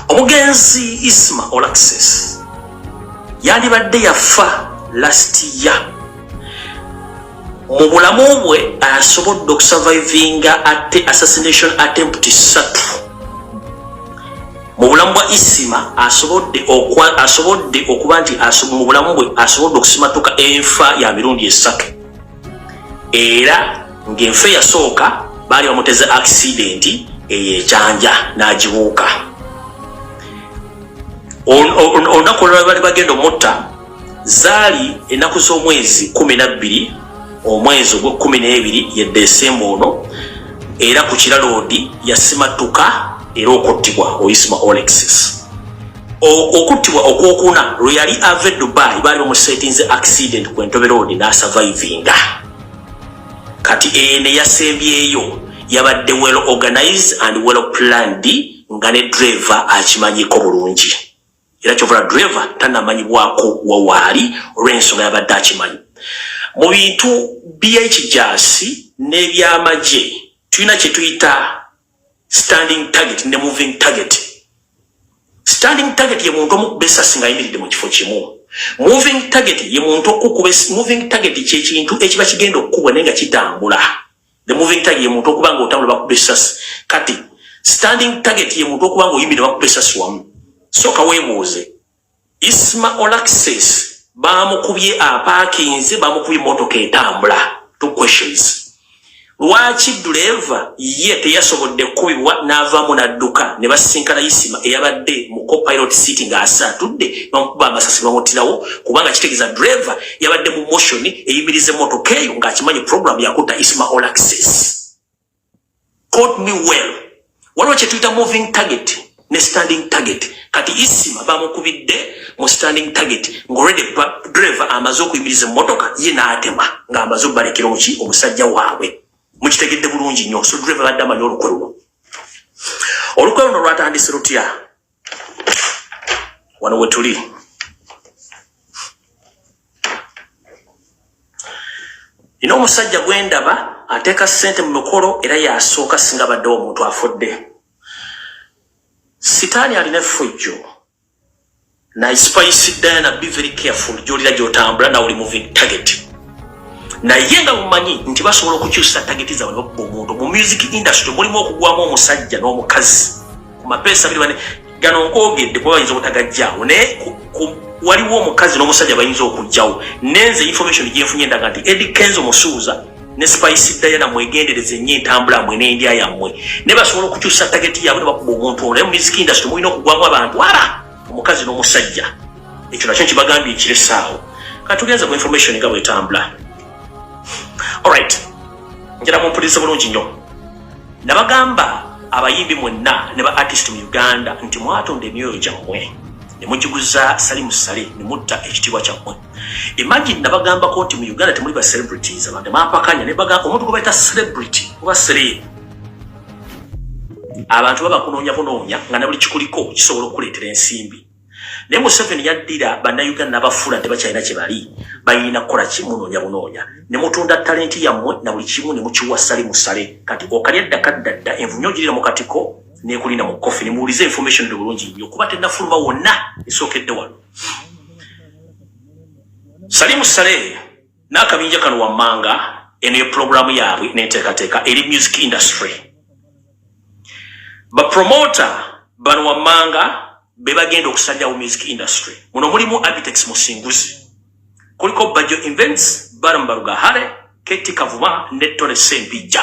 omugenzi isma olaxes yandibadde yafa last year mu bulamu bwe asobodde okusurvivinga ate assassination attempt satu mu bulamu bwa isima asobodde asobodde okuba nti mu bulamu bwe asobodde okusimatuka enfa ya mirundi esatu era ng'enfa eyasooka baali bamuteze akisidenti eyo ekyanja n'agibuuka olunaku olulala bali bagenda omutta zaali ennaku z'omwezi kumi nabbiri omwezi ogw'ekkumi n'ebiri ye desemba ono era ku kiraloodi yasimattuka era okuttibwa oyisma olexis okuttibwa okwokuna lwe yali ava e dubai baali bamusetinze accident ku entobe road n'asavaivinga kati eye ne yasembyeyo yabadde well organize and well planned nga ne driver akimanyiko bulungi era kyovula driver tanamanyibwako wawaali olw'ensonga yabadde akimanyi mu bintu by'ekijasi n'ebyamagye tulina kye tuyita standing target ne moving target standing target ye muntu omukuba esasi nga ayimiridde mu kifo kimu moving target ye muntu okukuba moving target kyekintu ekiba kigenda okukubwa naye nga kitambula the moving target ye muntu okuba nga otambula bakuba esasi kati standing target ye muntu okuba nga oyimiridde bakuba esasi wamu soka webuuze Isma Olaxes baamukubye apaakinze, baamukubye emmotoka etambula. Two questions. Lwaki dduleeva ye teyasobodde kukubibwa n'avaamu n'adduka ne basisinkana Isima eyabadde mu copilot seat ng'asa atudde bamukuba amasasi bamuttirawo kubanga kitegeeza dduleeva yabadde mu motion eyimiriza emmotoka eyo ng'akimanyi pulogulaamu yakutta Isima Olaxes. Quote me well. Waliwo kye tuyita moving target ne standing target. Kati Isima bamukubidde mu standing target ng'olwedde driver amaze okuyimiriza emmotoka ye n'atema ng'amaze okubalekera omuki omusajja waabwe. Mukitegedde bulungi nnyo so driver badde amanyi olukwe luno. Olukwe luno lwatandise lutya? wano wetuli nina omusajja gwendaba ateeka sente mu mikolo era yasooka singa badde omuntu afudde sitaani alina effujjo naye spice diana be very careful gyolira gyotambula nawe oli moving target naye nga mumanyi nti basobola okukyusa tageti zawe nokuba omuntu mu music industry mulimu okugwamu omusajja n'omukazi ku mapeesa biri bane gano nkoogedde kuba bayinza obutagajjaawo naye waliwo omukazi n'omusajja bayinza okujjawo nenze information gyenfunye endaga nti edi kenzo musuuza ne spice diana mwegendereze nnyo entambula mwe n'endya yammwe naye basobola okukyusa tageti yaabwe ne bakuba omuntu ono naye mu music industry mulina okugwamu abantu ara omukazi n'omusajja ekyo nakyo nkibagambye ekiressaawo katugenze ku information nga bwetambula Alright. Njira mu police bulungi nyo. Nabagamba abayimbi mwenna ne ba artist mu Uganda nti mwatonda emyoyo gyammwe ne mugiguza Salimu Sale ne mutta ekitiibwa kyammwe. Imagine nabagambako nti mu Uganda temuli ba celebrities abantu mapakanya ne bagamba omuntu gwe bayita celebrity oba celeb abantu baba kunoonya bunoonya nga ne buli kikuliko kisobola okukuleetera ensimbi. naye museveni yaddira bannayuganda nabafuula nti bakyalina kyebali balina kukola kimu noonya bunoonya nemutunda talenti yammwe na buli kimu nemukiwa sale musale kati okalya dda kadda dda envumi ogirira mu katiko nekulina mu kofi nemuwuliza information eri bulungi nnyo kuba tenafuluma wonna esookedde wano sali musale n'akabinja kano wammanga eno ye pulogulaamu yaabwe n'enteekateeka eri music industry bapromota bano wammanga be bagenda okusajjawo music industry muno mulimu abitex musinguzi kuliko bajo invents barambarugahare keti kavuma ne tone sempijja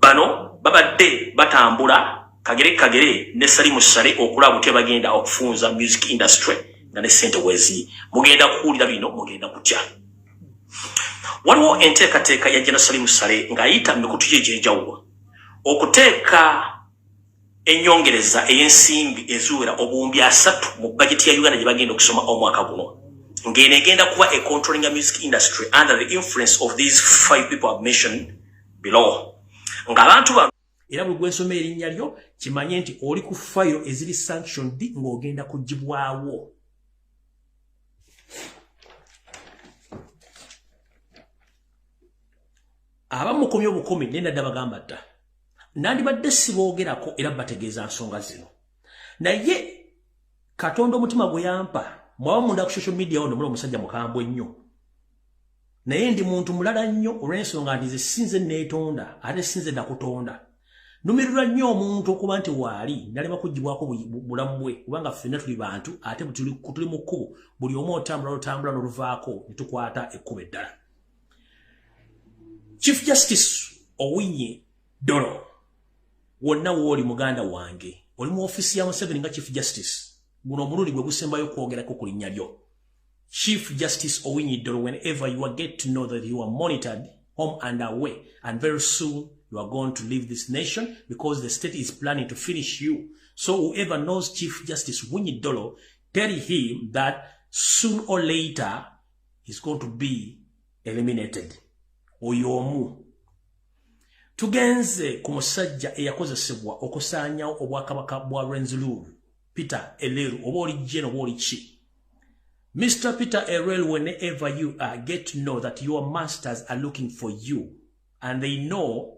bano babadde batambula kagere kagere ne salimu sale okulaba butya bagenda okufunza music industry nga ne sente weziri mugenda kuwulira bino mugenda kutya waliwo enteekateeka ya jena salimu sale ng'ayita mu mikutu gye egyenjawulo okuteeka enyongereza eyensimbi eziwera obuwumbi asatu mu bajeti ya uganda gyebagenda okusoma omwaka guno ngeno egenda kuba e controlling a music industry under the influence of these five people have mentioned below nga abantu bano era buli gwensoma erinnya lyo kimanye nti oli ku fayiro eziri sanctioned ng'ogenda kugibwawo abamukomya obukumi naye nadda bagamba dda nandibadde siboogerako era bategeeza nsonga zino naye katonda omutima gwe yampa mwaba munda ku social media ono mula omusajja mukambwe nnyo naye ndi muntu mulala nnyo olw'ensonga nti ze sinze neetonda ate sinze nakutonda numirirwa nnyo omuntu okuba nti waali nalema kugibwako bulamu bwe kubanga ffenna tuli bantu ate tuli mu kkubo buli omu otambula lutambula noluvaako netukwata ekkubo eddala chief justice owinye dolo wonna wooli muganda wange oli mu ofisi ya museveni nga chief justice guno omulundi gwe gusembayo kwogerako ku linnya lyo chief justice owinye dolo whenever you are get to know that you are monitored home and away and very soon you are going to leave this nation because the state is planning to finish you so whoever knows chief justice winyi dolo tell him that soon or later is going to be eliminated oyo omu tugenze ku musajja eyakozesebwa okusaanyawo obwakabaka bwa renzlur peter eleru oba oli jeno oba oli ki mr peter erel whenever you are get to know that your masters are looking for you and they know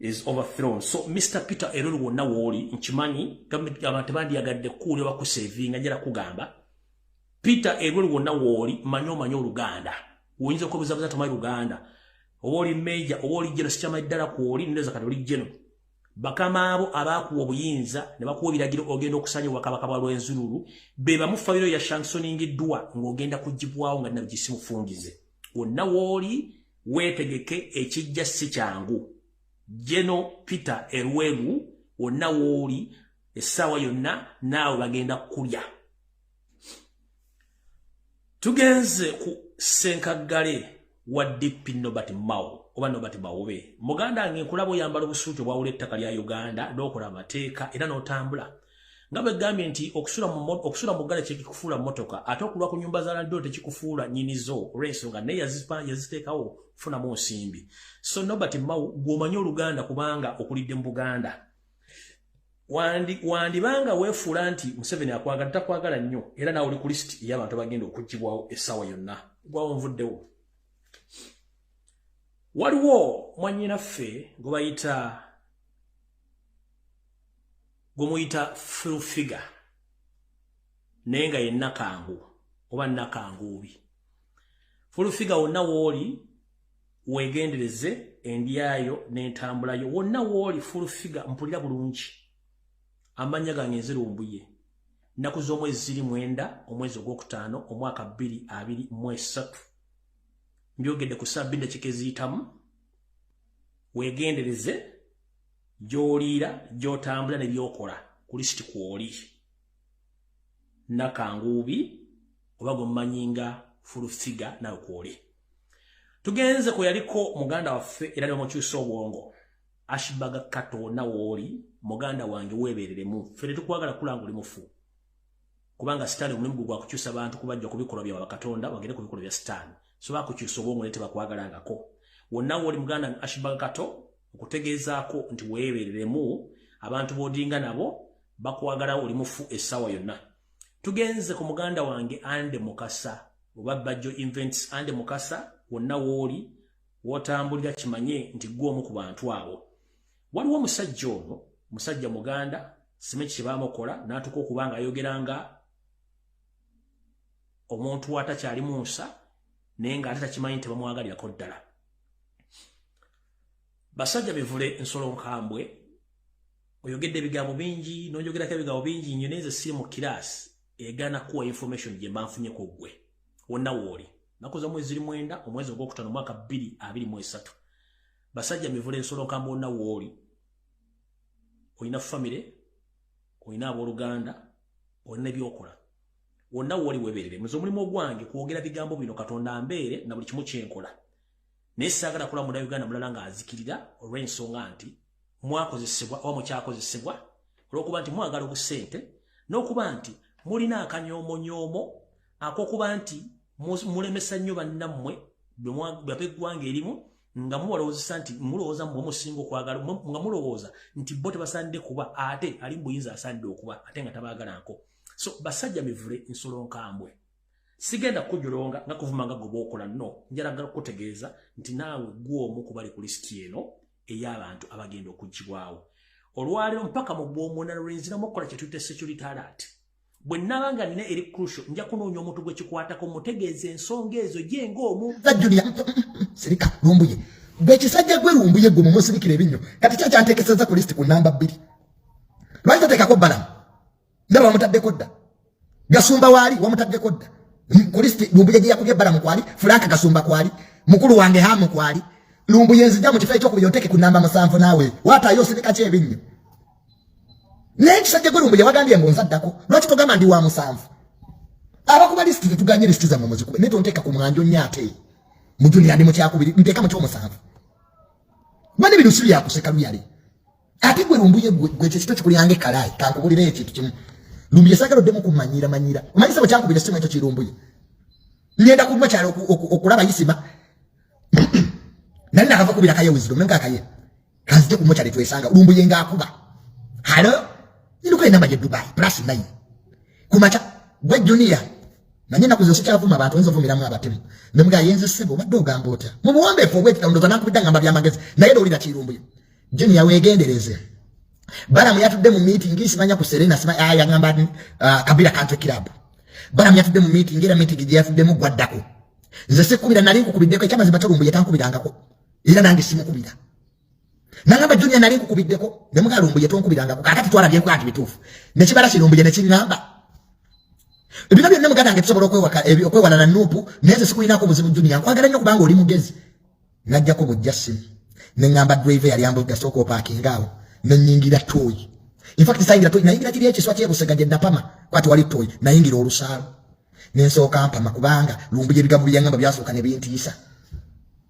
is overthrown so Mr. Peter Eruru wonna wooli nkimanyi government abantu tebandyagadde kuuli oba kusavinga njala kugamba Peter Eruru wonna wooli manyi omanyi oluganda oyinza okubuzabuza tomanyi luganda oba oli major oba oli jeno sikyamanyi ddala kwoli ndoza kati oli jeno bakama abo abaakuwa obuyinza ne bakuwa ebiragiro ogenda okusanya obwakabaka bwa lwenzululu be bamu fabiro ya shansoningiddwa ng'ogenda kugibwawo nga nabigisimufungize wonna wooli Wetegeke ekijja si kyangu. Jeno Peter Erwegu wonna wooli essaawa yonna naawe bagenda kulya. Tugenze ku ssenkaggale wa DP Nobert Mao oba Nobert Bawobe. Muganda nge nkulaba oyambala obusuuti obwawula ettaka lya Uganda n'okola amateeka era n'otambula. nga bwe gambye nti okusula mu okusula mu gale kyekikufuula mmotoka ate okulwa ku nyumba za landlord tekikufuula nyini zo olw'ensonga naye yazipa yaziteekawo kufunamu nsimbi so nobert mau gw'omanyi oluganda kubanga okulidde mu buganda wandibanga weefuula nti museveni akwagala takwagala nnyo era naawe oli ku lisiti ey'abantu abagenda okuggibwawo essaawa yonna gwawo nvuddewo waliwo mwanyinaffe gwe bayita gwemuyita full figure naye nga ye nakangu oba nakanguubi full figure wonna wooli wegendereze endyayo n'entambulayo wonna wooli full figure mpulira bulungi amannya gange nzirumbuye nnaku z'omwezi ziri mwenda omwezi ogwokutaano omwaka bbiri abiri mu esatu mbyogedde ku saa bbiri dakika eziyitamu wegendereze gyoliira gyotambula ne byokola ku lisiti kwoli nakanguubi oba gwemumanyi nga fulufiga nawe kwoli tugenze kwe yaliko muganda waffe era ne bamukyusa obwongo ashibaga kato nawooli muganda wange weebereremu ffe tetukwagala kulanga oli mufu kubanga sitaani omulimu gwe gwakukyusa bantu kubajja ku bikolwa bya bakatonda bagende ku bikolwa bya sitaani so bakukyusa obwongo naye tebakwagalangako wonna wooli muganda ashibaga kato okutegeezaako nti weebereremu abantu boodinga nabo bakwagalawo oli mufu essaawa yonna tugenze ku muganda wange ande mukasa oba bajjo invents ande mukasa wonna wooli wotambulira kimanye nti gwe omu ku bantu abo Waliwo omusajja ono, musajja muganda, sime kibamokola natuko kubanga ayogeranga omuntu wata kyali munsa nenga atata kimanyi nti bamwagalira ko ddala. Basajja bivule nsolo nkambwe oyogedde ebigambo bingi noyogerako ebigambo bingi nnyo neze siri mu class egana kuwa information gye mbanfunye ku gwe wonna wooli nakoza mwezi ziri mwenda omwezi ogwokutano mwaka 2 23 basajja mivule nsolo nkamba onna wooli olina famire olina abooluganda olina ebyokola wonna wooli weberere muze omulimu ogwange kwogera bigambo bino katonda mbeere na buli kimu kyenkola naye saagala kula muna uganda mulala ng'azikirira olw'ensonga nti mwakozesebwa oba mukyakozesebwa olw'okuba nti mwagala obusente n'okuba nti mulina akanyoomonyoomo akokuba nti mulemesa nnyo bannammwe bweggwanga erimu nga muwalowozesa nti mulowoza mwe musinga okwagala nga mulowoza nti bo tebasande kuba ate ali mbuyinza asande okuba ate nga tabagala nko so basajja mivule nsolo nkambwe sigenda kujulonga nga kuvuma nga goba okola no njaragala kutegeeza nti naawe gwo omu kubali ku lisiti eno ey'abantu abagenda okugibwawo olwaliro mpaka mu bwomuna lwenzira mukola kyetuyita security alert bwe nnaba nga nina eri krusho nja kunoonya omuntu gwe kikwatako mutegeeza ensonga ezo gye ng'omu julia sirika lumbuye gwe kisajja gwe lumbuye gwe mumusirikira ebinnyo kati kyo kyanteekeseza ku lisiti ku namba bbiri lwaki tateekako balamu ndaba wamutaddeko dda gasumba waali wamutaddeko dda ku lisiti lumbuye gye yakubye balamu kwali fulaaka gasumba kwali mukulu wange hamu kwali lumbuye nzija mu kifo ekyokubiri oteeke ku namba musanvu naawe waataayo osirika kyebinnyo naye kisajja gwe lumbuye wagambye mbu nva ddako lwaki togamba ndi wa musanvu abakuba lisiti tetuganye lisiti zammwe muzikube naye tonteeka ku mwanjo nnyo ate mu juniya ndi mu kyakubiri nteeka mu kyomusanvu mani bino si byakuseka luyale ate gwe lumbuye gwe ekyo kito kikulyanga ekkalaayi kankubulira ekintu kimu lumbuye saagala oddemu kumanyira manyira omanyi sebo kyakubira simu ekyo kirumbuye ngenda kuluma kyalo okulaba isima nali nakava kubira kaye wisdom nenga kaye kanzije ku mochari twesanga lumbuye nga akuba halo inuka inamba ya dubai plus 9 kumacha gwe junior nanye nakuzo sikyavuma abantu enzo vumira mwa batemu nemga yenze sebo badde ogamba otya mu buwombeefu obwekita ndoza nakubidda ngamba byamagezi naye lowulira kirumbuye junior wegendereze balamu yatudde mu meeting simanya ku serena sima ah, yagamba uh, ah, kabira country club balamu yatudde mu meeting era meeting gye yatuddemu gwaddako nze sikubira nali nkukubiddeko ekyamazima tolumbuye tankubirangako era nange simukubira nangamba junia nali nkukubiddeko ne mugalo mbuye tonkubirangako kakati twalabye nkuba nti bituufu nekibala kino mbuye nekiŋŋamba ebino byonna muganda nge tusobola okwewala na nuupu naye ze sikulinako obuzibu junia nkwagala nnyo kubanga oli mugezi najjako bujja simu ne ŋŋamba drive yali ambulira sooka opaakinga awo ne nnyingira tooyi infact sayingira tooyi nayingira kiri ekiswa kyebusega gye napama kwati wali tooyi nayingira olusaalo ne nsooka mpama kubanga lumbuye ebigambo byeyaŋŋamba byasooka ne bintiisa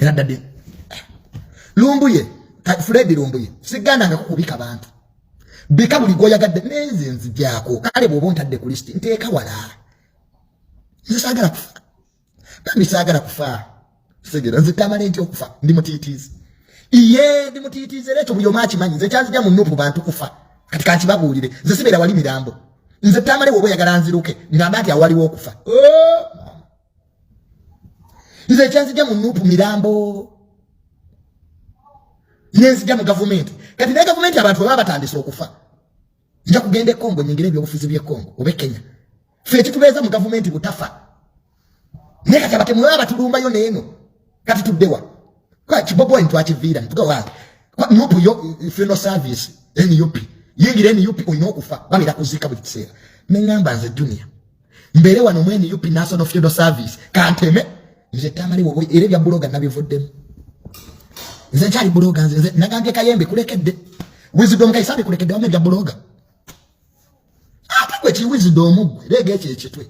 era dadi lumbuye fred lumbuye siganda nga kukubika bantu bika buli gwoyagadde nenze nzigyako kale bwoba ontadde ku lisiti nteeka wala nze saagala kufa bambi saagala kufa segera nze tamala enti okufa ndi mutiitiizi iye ndi mutiitiizi era ekyo buli omu akimanyi nze kyanzija mu nupu bantu kufa kati kankibabuulire nze sibeera wali mirambo nze tamale woba oyagala nziruke ngamba nti awaliwo okufa oh! nze ekyanzija mu nupu mirambo nenzija mu gavumenti kati naye gavumenti abantu baba batandise okufa nja kugenda ekongo nyingire ebyobufuzi byekongo oba ekenya fe ekitubeeza mu gavumenti butafa naye kati abatemu baba batulumbayo neeno kati tuddewa kiboboyi ntwakiviira ntugawa nupu yo funeral service nup yingira nup olina okufa babera kuziika buli kiseera neŋamba nze junior mbeere wano mu nup national funeral service kanteme nze tamale wobo era ebya buloga nabivuddemu nze nkyali buloga nze nze nagambye kayembe kulekedde wisdom kaisabe kulekedde wamu ebya buloga ate gwe ki wisdom gwe leega ekyo ekitwe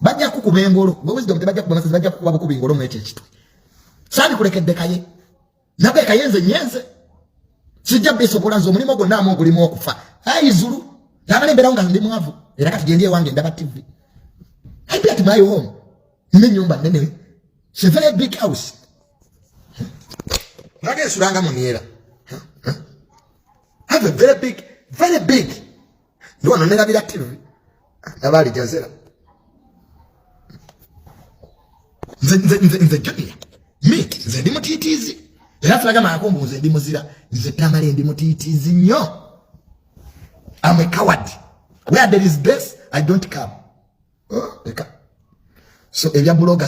bajja kukuba engolo gwe wisdom tebajja kuba masezi bajja kukuba bukuba engolo mu ekyo ekitwe sabi kulekedde kaye nabwe kayenze nyenze sijja bisobola nze omulimu gwonna amu ogulimu okufa ayi zulu nabale mbeerawo nga ndi mwavu era kati gyendi ewange ndaba tivi i bet my home nina ennyumba nnene se very big house naga esulanga muniera have a very big very big ndi wano nerabira tv ndaba alijazera nze junior mi nze ndi mutiitiizi era tulaga maako mbu nze ndi muzira nze tamale ndi mutiitiizi nnyo am a coward where there is base i don't come oh, so ebya buloga